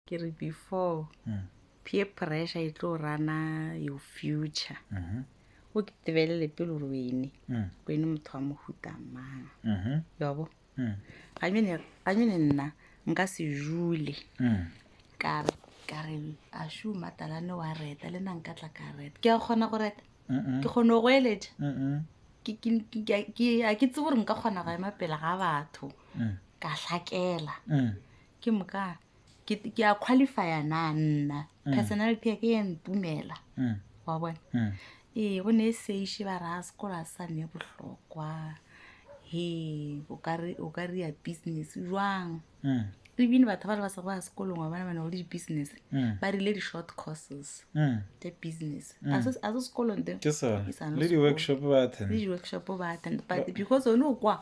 ke re before mm. peer pressure e tlo rana your future mm -hmm. o ke tebelele pele gore wene mm. wene motho wa mohuta mang mm -hmm. yobo mm. ganyone nna nka se jule mm. kare kare a shu matalane wa reta le na nka tla ka reta ke a kgona go reta mm -mm. ke kgone go eletša mm -mm. a ke tse gore nka kgona go ema pele ga batho mm. ka hlakela mm. ke moka ke ke a qualifya na nna personality ya ke ya ntumela Mm. wa bona Mm. ee go ne e seiše ba ra sekolo a sa ne bohlokwa he o ka re- o ka rea business jwang Mm. ebile batho ba le ba sa go ya sekolong wa bona ba ne go le di-business Mm. ba rile di-short courses Mm. tša business a se a se sekolong te ke sone Ke sa le le di-workshop ba le attend di-workshop ba attend but because one o kwa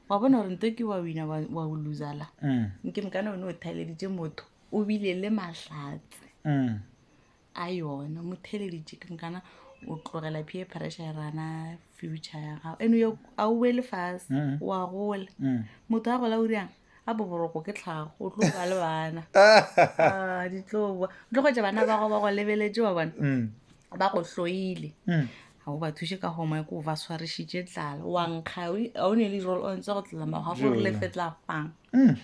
wa bona gore nto ke wa wina wa wa o loser la Mm. nke mokana one o theleditše motho o bile le mahlatse Mm. a yona mo theleditše ke mokana o tlogela peer pressure ya rana future ya gago ene yo a o boele fase Mm. wa gola Mm. motho a gola o riang a boboroko ke tlhago o tlo ba le bana Ah, ditloboa o tlo kgwetsa bana ba gago ba go lebeletse wa bona Mm. ba go hloile mm. ga o ba thuše ka goma ko ba swarišitše tlala wa nkga a o ne le role o ntse go tlela mago ga gore lefe tla fang mm.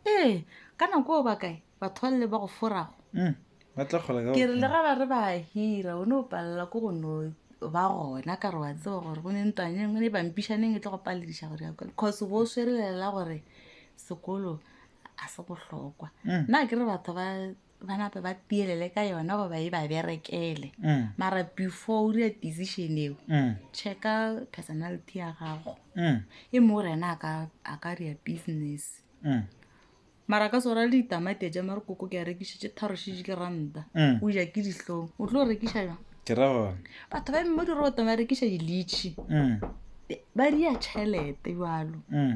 ee ka nako o ba kae batho ba lele ba go forago mm. ke re le ga ba re ba hira o ne o palela ko go no ba gona ka re wa tseba gore go ne ntwanyeng o ne bampišaneng e tlo go palediša gore ya kole cause bo o swerelela gore sekolo a se bohlokwa mm. nna ke re batho ba ba nape ba tielele ka yona goba e ba berekele mm. mara before o dira decision eo mm. checka personality ya gago mm. e mo gore ena a ka dira business mm. mara ka sora le ditamati ja mare koko ke a rekišitše tharošitše ke ranta mm. o ja ke dihlong o tlo rekiša jang ke ra gona batho ba mo diroto ba rekiša dilitšhi mm. ba dia tšhelete jalo mm.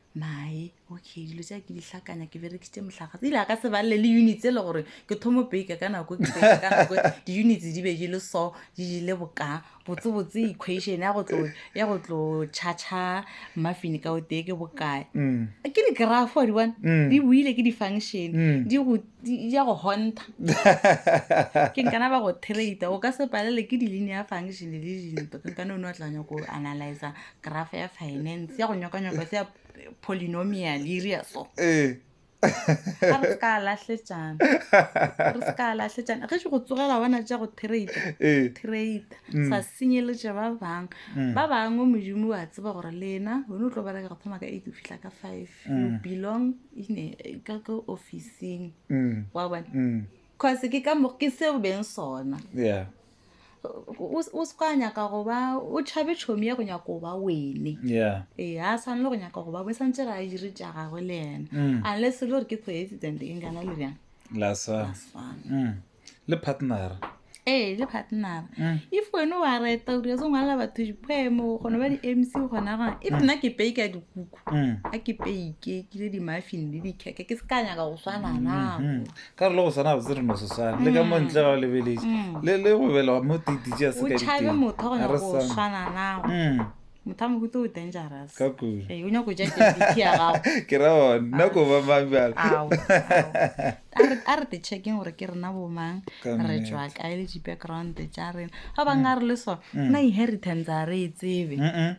mae okay dilo tsa ke di hlakanya ke berekisitse motlhagatse ile a ka se balele le units e le gore ke thomo bake ka nako ke bake ka nako di-units di be di le so di jile boka botsebotse equation ya go tlo ya go tlo cha-cha muffin ka o tee ke bokae Mm. ke di-graph wa di bona Mm. di buile ke di-function Mm. di go di di ya go honta ke nkana ba go trade o ka se palele ke di-linear function le dintho ke nkana o ne wa tlanya ko analyza grafa ya finance ya go nyokanyoko se ya polynomial iria so ee ga re se ka lahletšana re se ka lahletšana ge se go tsogela bona tša go trade ee trade Mm. sa senyeletše ba bang Mm. ba bangwe modimo wa tseba gore lena wena o tlo bereka go thoma ka eight o fitlha ka five you Mm. belong in a- ka ka officing mm wa bona mm cause ke ka mo ke seo beng sona yeah o o se ka nyaka go ba o tšhabe tšhomi ya go nyaka go ba wene yeah ee ga a tshwanele go nyaka go ba wene santse re a dire tša gagwe le ena Mm. unless e le gore ke coincident e nkana le bjang la sa Ga se fana. mm le partner ee le partnera Mm. if wene wa reta o dira se ngwalela batho dipoemo gona ba di-mc gona gona if nna ke pei ka dikuku Mm. a ke peike ke le di-muffin le dikeke ke se ka nyaka go swana Mm, nako mm. ka re le go sana botse re no se swane le ka mo ntle ga o lebeletse Mm. le le go bela mo tititše a se o ka tšhabe diteng. motho wa go A nyaka re go sane. swana nago Mm, motho a mohuto o dangerous ka kudu Ee, o nyaka go ja debiti ya gago ke ra one nna ko ba mang bjalo Ao, a re- a re te checkeng gore ke rena bomang Ka re nnete. tswa kae le di-background tša rena ga bang a re le so na inheritance a re e tsebe Mm-mm.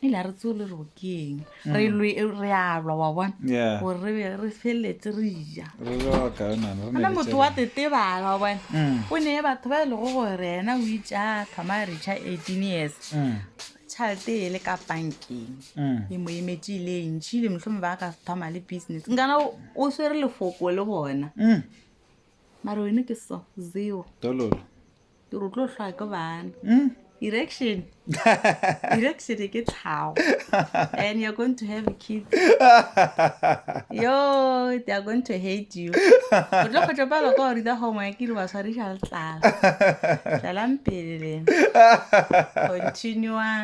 e le a re tseo le re go ke eng re lwe re alwa wa bona Mm. Yeah. gore re be re feleletse re ja Re re wa kae nana, re ne ana re motho tšere- wa tetebala wa bona Mm. o ne batho ba e lego gore ena o itša thoma a recha eighteen years Mm, tšhalete e le ka bankeng mm. e mo emetse e le ntšhi le motlhome ba ka thoma le business nkana o- o swere lefoko le bona Mm, mare wene ke so zero tololo ke re o tlo hlwa ke bana mm. erection erection e ke tlhago and you're going to have kids yo they are going to hate you o tlo kgotlo palo ka gore tsa gongwe ke re ba tshwariša le tlala tlalang pele lena continuang